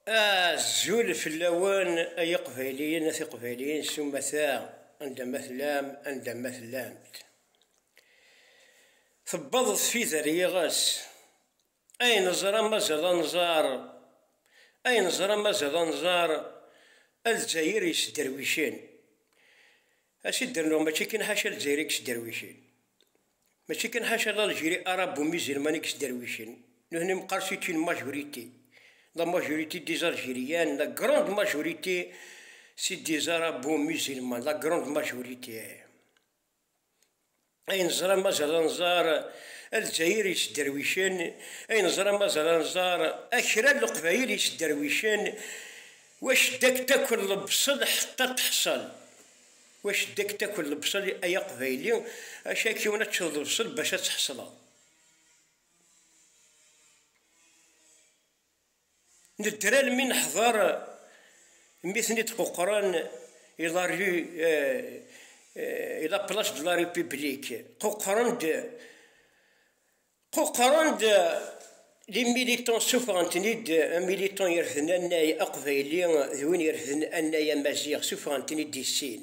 Azul fell-awen ay iqbayliyen a tiqbayliyin s umata anda ma tellam anda ma tellamt. Tewweḍ tfida ar yiɣes ay neẓra mazal ad nẓer ay neẓra mazal ad nẓer a Lezzayer yesderwicen. As i d-rennuɣ mačči kan ḥaca Lezzayer i yesderwicen. Mačči kan ḥaca d Aljiri arabu mizilman i yesderwicen, nutni meqqar c'est une majorité, la majorité des Algériens, la grande majorité c'est des arabo mizilman, la grande majorité. Ay neẓra mazal ad nẓar Alzayir yesderwicen, ay neẓra mazal ad nẓar akra n Leqbayel yesderwicen, wac dak takk lebṣel ḥeṭṭa teḥṣel. Wac ddek takel lebṣel ay aqbayli acu ak yiwen ad teččeḍ lebṣel bac ad tḥesleḍ. Nedder almi neḥder mi ten id quqren i la rue i la place de la republique quqren d Quqren-d les militants suffɣen-ten-id militant irefden annay aqbayli d win irefden annay amaziɣ suffɣen-ten-id i sin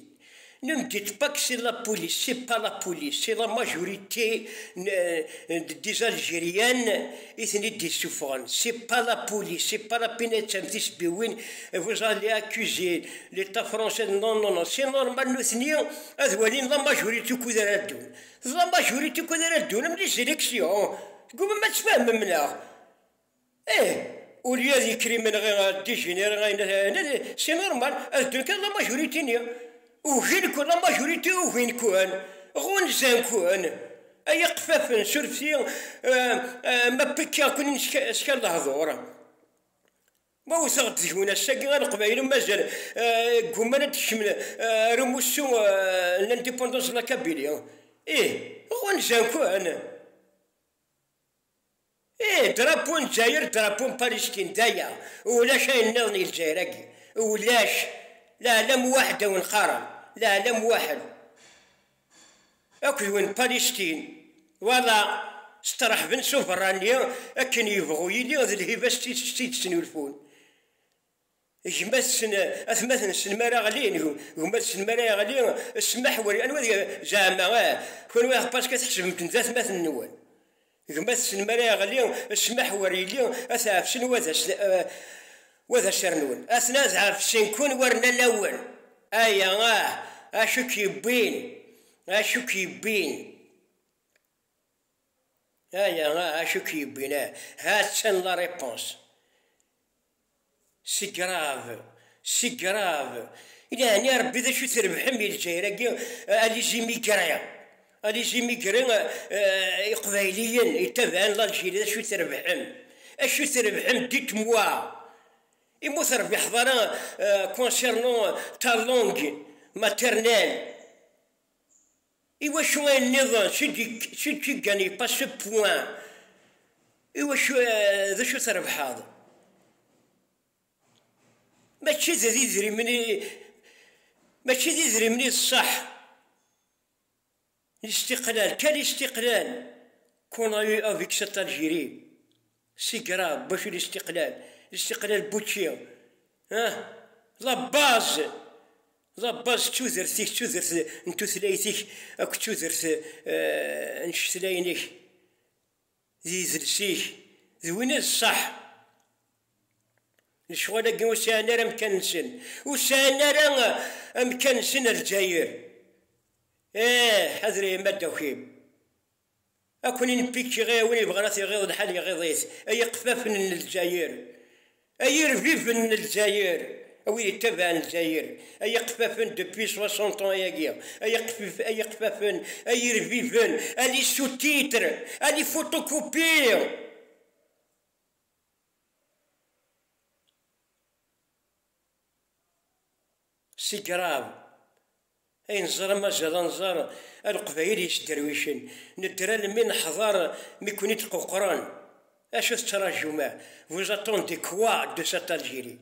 ne me dites pas que c'est la police c'est pas la police c'est la majorité des algériennes i ten-id issuffɣen c'est pas la police c'est pas la pinettam tisbiwin vous allez accuser l'état français non non non c'est normal nutni ad walin la majorité ukud ara ddun Teẓram daɣ ur ittukkad ara ddun am di seleksyu, tgumam ad tfehmem neɣ? Ih, ulya di krimen ɣi degenere ayen ad inin c'est normal ad ddun kan la majorité ni ugin-ken la majorité ugin-ken, ɣunzan-ken, ay iqeffafen surfet-i ma pekkaɣ-ken-in s kan lehdur. Ma wteɣ-d deg-wen ass-agi a Leqbayel n Mazal, ggumman ad d-kecmen ar umussu n l'indépendance de la Kabylie. Ih, ɣunzan-ken! Ih, drapeau n Dzayer, drapeau n Palestine, d aya, ulac ayen nniḍen i Lezzayer-agi. Ulac! L'Alam Wahed a wen-qqaren, l'Alam Wahed. Akk d win n Palestine, wala steṛḥben s ubeṛṛani akken yebɣu yili d lhiba s tidet i d-ttnulfun gma-tsen, atmaten-nsen mi ara ɣlin, gma-tsen mi ara yeɣli ssmaḥ wer, anwa, zeɛma, ah, kunwi, ah, paska tḥesbem-ten d atmaten-nwen. Gma-tsen mi ara yeɣli ccmaḥ wer yelli ad t-ɛefcen wa d acernun. Aten ad ɛefcen-ken war lalla-wen. Aya ah, acu i k-yewwin? Acu i k-yewwin? Aya ah, acu i k-yewwin? Ah, ha-tt-an la réponse. Sigrave, Sigrave, Yeɛni a Rebbi d acu trebḥem i Lezzayer-agi a les immigrés, a les immigrés, Iqbayliyen yettabaɛen Lalziri d acu trebḥem, acu trebḥem, dites-moi, imi ur terbiḥeḍ ara concernant ta langue maternelle. Iwacu ayen nniḍen sǧǧiǧǧan yeṭṭas ce point? Iwacu d acu trebḥeḍ? Mačči d idrimen i mačči d idrimen i d ṣaḥ n istiqlal kan istiqlal qu'on a eu avec cette Algérie. Sigrad bacu listiqlal, listiqlal bučči, ah, la baz, la baz tudert-ik, tudert n tutlayt-ik akked tudert eh, n cetlayen-ik, d idles-ik, d win i d ṣṣaḥ. Lecɣal-agi ur sɛin ara amkan-nsen, ur sɛin ara amkan-nsen ar Lezzayer. Eh, ḥader ay amaddaw-im. Ad ken-in-pikki i win yebɣan ad t-iɣiḍ lḥal iɣiḍ-it, ay iqeffafen n Lezzayer, ay irbiben n Lezzayer, a wid yettabaɛen Lezzayer, ay iqeffafen depuis soixante ans ayagi, ay iqeffafen, ay iqeffafen, ay irbiben, a les sous-titres, a les photocopies! Si Grav, ay nẓer amaziḍ a nẓer a leqbayel yesderwicen, nedder almi neḥḍer mi ken-id quqren, acu tettrajum a vous attendez quoi de cette Algérie?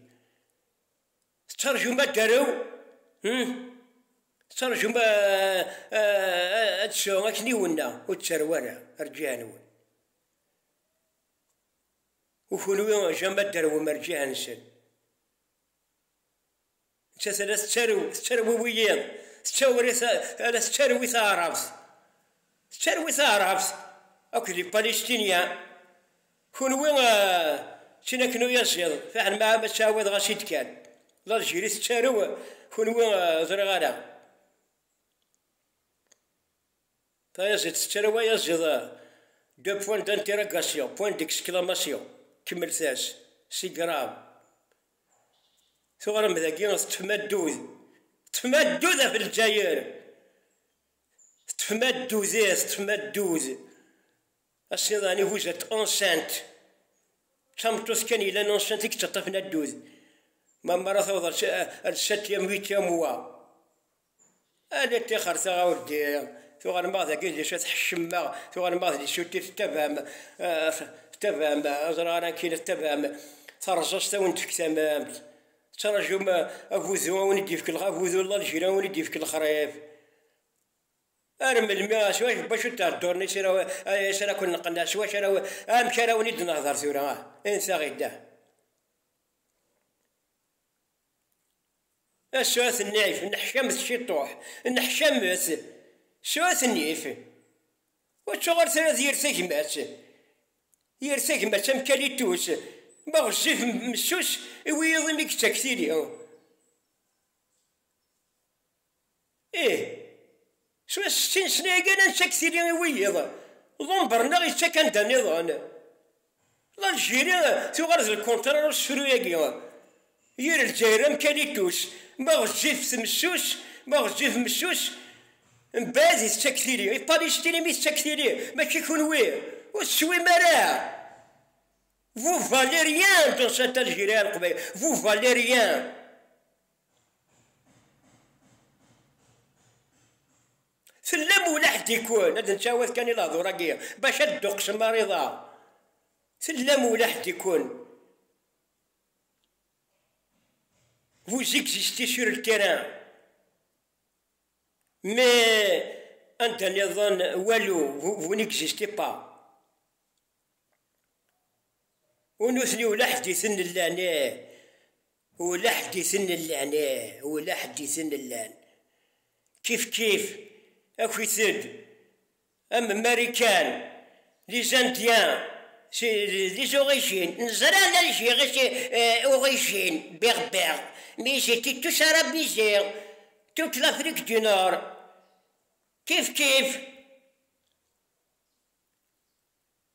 Tettrajum ad d-tarew? Hum? Tettrajum a ad d-tesɛu akniwen-a? Ur d-tarew ara, rǧiɛen-wen. U kunwi jamais ad d-tarwem rǧiɛ-nsen. Nettat ala tettarew, tettarwiwi yiḍ, tettawri ala tettarwi taɛrabt, tettarwi taɛrabt akked di Palestinia, kunwi tin akken uyaziḍ fiḥel ma ad ttɛawadeɣ as-id kan, Laljirie tettarew kunwi ur ẓriɣ ara. Tayaziḍt tettarra wayaziḍ de point d'interrogation, point d'exclamation, kemmlet-as, c'est grave. Tuɣrem dagi teṭṭfem addud, teṭṭfem addud ɣef Lezzayer, teṭṭfem addud ih, teṭṭfem addud. Ass-nni daɣen ihuzat enceinte, d tameṭṭut kan yellan enceinte i yettaṭṭafen addud. Ma mara tawḍ ar sept yam, huit yam mois. Ala ṭṭixer taɣ a wldi, tuɣal maɣ dagi d isu tḥeccem maɣ, tuɣal maɣ d isu tif tabam, tabam, ur ẓriɣ ara amek yella tabam, taṛẓaẓt a wen-d-tefk tamamt, teţṛaǧum agudu a wen-id-yefk lexṛif, agudu n Lalǧir a wen-id-yefk lexṛif, ar melmi, s wacu, s wacu ţhedduṛen i siraw, i sira ken-neqqen, s wacu ara, amek ara wen-id-nehdeṛ tura ah, in taɣ-id ah. A suɛet nnif, nneḥcamet ciṭuḥ, nneḥcamet, suɛet nnif, ucuɣer tura d yir tagmat, yir tagmat am kalitus, ma ɣezzif messus i wiyiḍ imi yettak tili. Ih, s wass-sti n ssna yakan ad neţţak tili i wiyiḍ, Ḍumber-nneɣ yeţţak anda nniḍen. L'Algérie tuɣal d lkuntṛa n usefru-yagi, yir Lezzayer am Kalitus, ma ɣezzif messus, ma ɣezzif messus, mbeɛd i teţţak tili. I Palestine mi teţţak tili, mačči kunwi ur teswim ara? Vous valez rien dans cette Algérie a Leqbayel, vous valez rien. Fell-am ula ḥedd ikun, ad nettawad kan i lehdur-agi bac ad d-tuqsem mariḍa, fell-am ula ḥedd ikun, vous existez sur le terrain, mais anda nniḍen walu, vous n'existez pas, u nutni ula ḥedd iten llan, ih. Ula ḥedd i ten-llan, ih, ula ḥedd i ten-llan. Kifkif, akit-d am Marikan, les Indiens, c'est les origines, neẓra l'Algérie c'est origine, berbère, mais ils étaient tous arabisés, toute l'Afrique du Nord. Kifkif.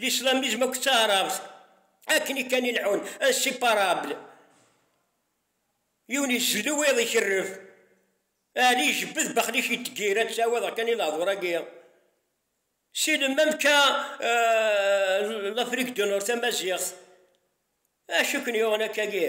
L'islamisme akked taɛrabt akken i kan i leḥun, inséparables. Yiwen izellu, wiyaḍ ikerref. Ɛli ijebbed, Baxlic itteggir, ad ttawiḍeɣ kan i lehdur-agi. Si lemmam ka l'Afrique du Nord tamaziɣt, acu i ken-yuɣen akkagi?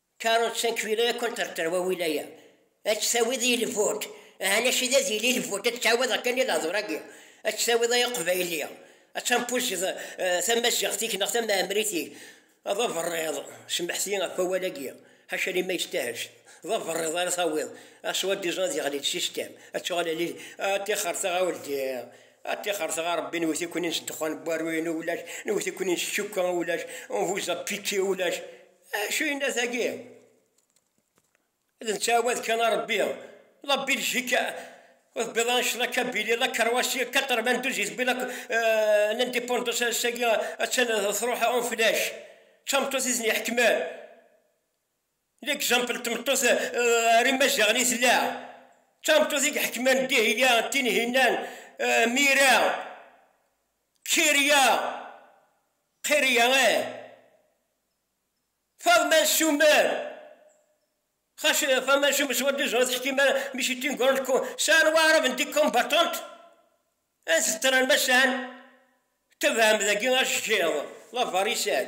Karutt Sankvila ad ken-terter wawil-aya, ad tt-tawiḍ i lvot, aha lac id ad yili lvot, ad tt-tawiḍ akken i lehdur-agi, ad tt-tawiḍ ay aqbayli, ad tampuzeḍ tamaziɣt-ik neɣ tamɛemrit-ik, d aberriḍ, semḥet-iyi ɣef wawal-agi, ḥaca liman yestahel, d aberriḍ ara tawiḍ, a soi-disant ad yeɣli lsistem, ad tuɣal ad ad tixxert ɣa uldi, ad tixxert ɣa Rebbi, nwet-iken-in s ddexxan n waru-inu ulac, nwet-iken-in s tcukka ulac, on vous a piqué ulac, Acu yenna tagi? Ad nettɛawad kan a Rebbi, la Biljik ur tbiḍ ara ccna Kabili, la Karwasi, 92 i tbiḍ n indépendance ass-agi attan truḥ en flash, d tameṭṭut i ten-iḥekmen, l'exemple n tmeṭṭut ɣer imaziɣen i tella, d tameṭṭut i iḥekmen Dihya, Tinhinan, Mira, Kirya, Qirya, ih. Faḍma Summer, Xas Faḍma Summer s wadduz ur teḥkim ara mi s tin gurant ko sɛan waɛrab n di combattant ad t-ttran ma sɛan tebɛem dagi acgiḍ, la varisan.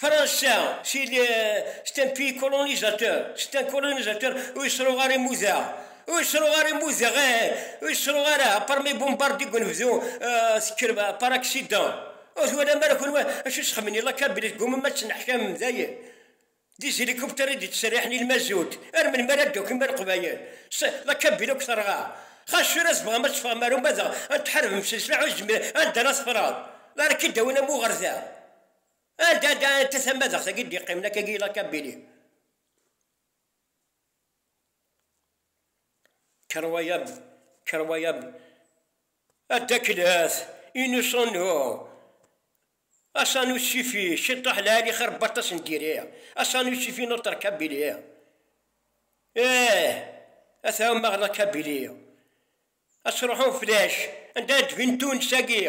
Fransa, c'est un pays colonisateur, c'est un colonisateur, ur yettruɣ ara imuda, ur yettruɣ ara imuda, ur yettruɣ ara, apar ma ibumbardi deg unebdu, tekker par accident, ur twalam ara kunwi acu i sexdmen i la Kabyle, tgumam ad tenneḥkamem dayen, des hélicoptères i d-yettserriḥen i lmazut, ar melmi ara d-takim a Leqbayel, la Kabyle akk terɣa, xas tura tebɣam ad teffɣem ar umadaɣ ad tḥarbem s leslaḥ ur tezmirem, anda ara teffreḍ, ara k-id-awin am uɣerda. Ad ad anta tamadaɣt agi d-iqqimen akka agi ilaq a Billy? Kker waya b, kker waya b. A Dda Klas, inu sanu, asanu sifi, ciṭuḥ lɛali xir n waṭas n diri, asanu sifi n uṭerk a Billy. Eeh, a t-ɛummaɣ nekk a Billy. A s-ruḥun flac, anda ara d-bin Tunes agi?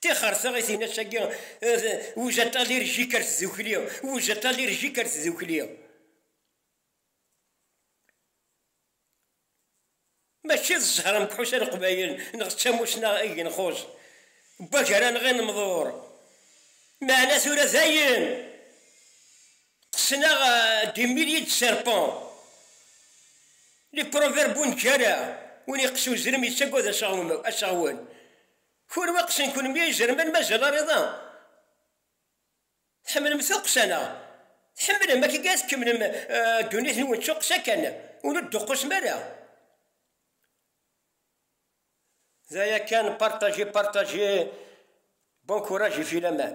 Tixer taɣitin-agi wujat alirjik ar tdukli, wujat alirjik ar tdukli. Mačči d zzher amekḥus a Leqbayel, neɣ d tamussna i genxus n wagar anɣi n umḍur. Meɛna tura dayen qqsen-aɣ des milliers de serpents, les proverbes ur neǧǧi ara, win yeqqes uzrem yettagad aseɣwen. Kul wa qsen kunmi a izerman mazal ar iḍ-a tḥemmlem tuqqsa neɣ? Tḥemmlem akken kan ad tkemmlem ddunit nwen d tuqqsa kan ur d-tuqqusem ara. D aya kan partager partager bon courage et filaman.